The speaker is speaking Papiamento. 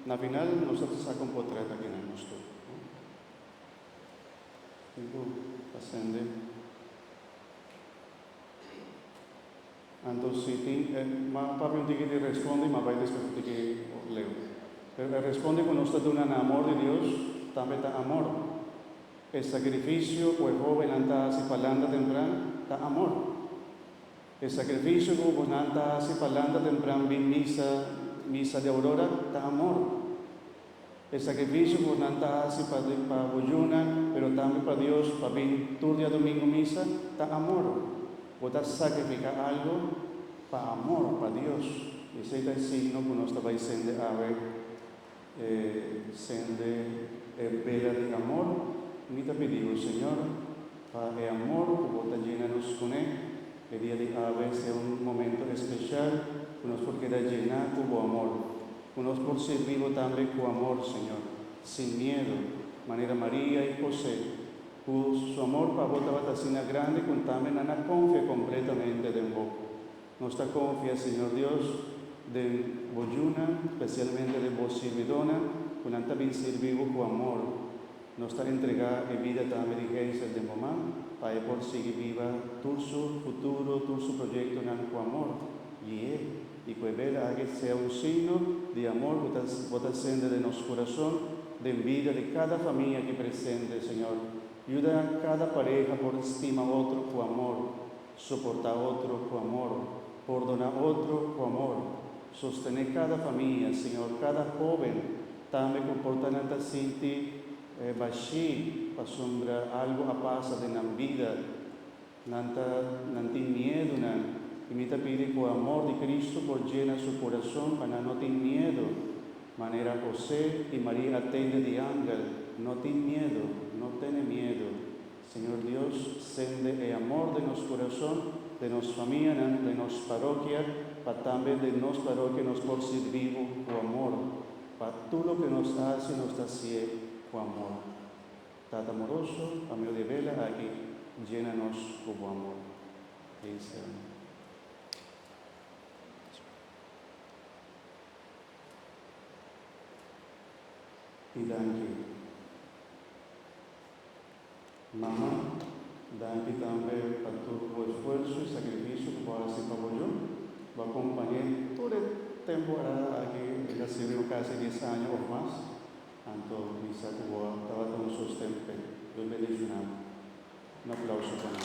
Na final nos ta ta sa kon por trata kinan nos tur. Tin ku ta sende. Anto si tin e ma papia un tiki di respondi ma bai despues un tiki por leu. Pero e respondi ku nos ta duna na amor di Dios tambe ta amor. E sakrifisio ku e hobennan ta hasi pa lanta tempran ta amor. E sakrifisio ku bonan ta hasi pa lanta tempran bin misa, misa di aurora, ta amor. E sakrifisio ku bonan ta hasi pa pa bo yuna, pero tambe pa Dios, pa bin tur diadomingu misa, ta amor. Bo ta sakrifiká algu pa amor pa Dios. I esei ta e signo ku nos ta bai sende awe. e sende e bela di amor, mi ta pidibo, Señor, pa e amor cu bo ta djina nos cune e dia di awe sea un momento especial cu nos por keda djina cu bo amor, cu nos por sirbibo tambe cu amor, Señor, sin miedo, manera Maria y Jose, cu su amor pa bo tabata asina grande cu tambe nan a confia completamente den bo. Nos ta konfia, Señor Dios, den Bo yunan, spesialmente den Bo sirbidónan ku nan ta bin sirbi Bo ku amor. Nos ta entregá e bida tambe di Hazel den Bo man, pa e por sigui biba tur su futuro, tur su proyektonan ku amor. Gui'é, i ku e bela aki sea un signo di amor ku Bo ta sende den nos kurason, den bida di kada famia aki presente, Señor. Yuda kada pareha por stima otro ku amor. Soportá otro ku amor. Pordoná otro ku amor. Sostené kada famia, señor, kada hóben tambe ku por ta nan ta sinti bashí pasobra algu a pasa den nan bida. Nan ta nan tin miedunan i mi ta pidi ku amor di Kristu por djena su kurason pa nan no tin miedu. Manera José i Maria a tende di angel, No tin miedu, no tene miedu. Señor Dios, sende e amor den nos curason, den nos famianan, den nos parokia, pa tambe den nos parokia nos por sirbi Bo cu amor, pa tur loke nos haci nos ta hacié cu amor. Tata amoroso, pa medio di e bela aki, llena nos cu Bo amor. Cristian. I danki. Mama, danki tambe pa tur bo esfuerso i sakrifisio ku bo hasi pa bo yo. Bo a kompañ'é tur e temporada aki, el a sirbi bo kasi dies aña òf mas. Anto mi sa ku bo a tabata un sosten p'e. Dios bendishoná bo. Un aplauso pa mi.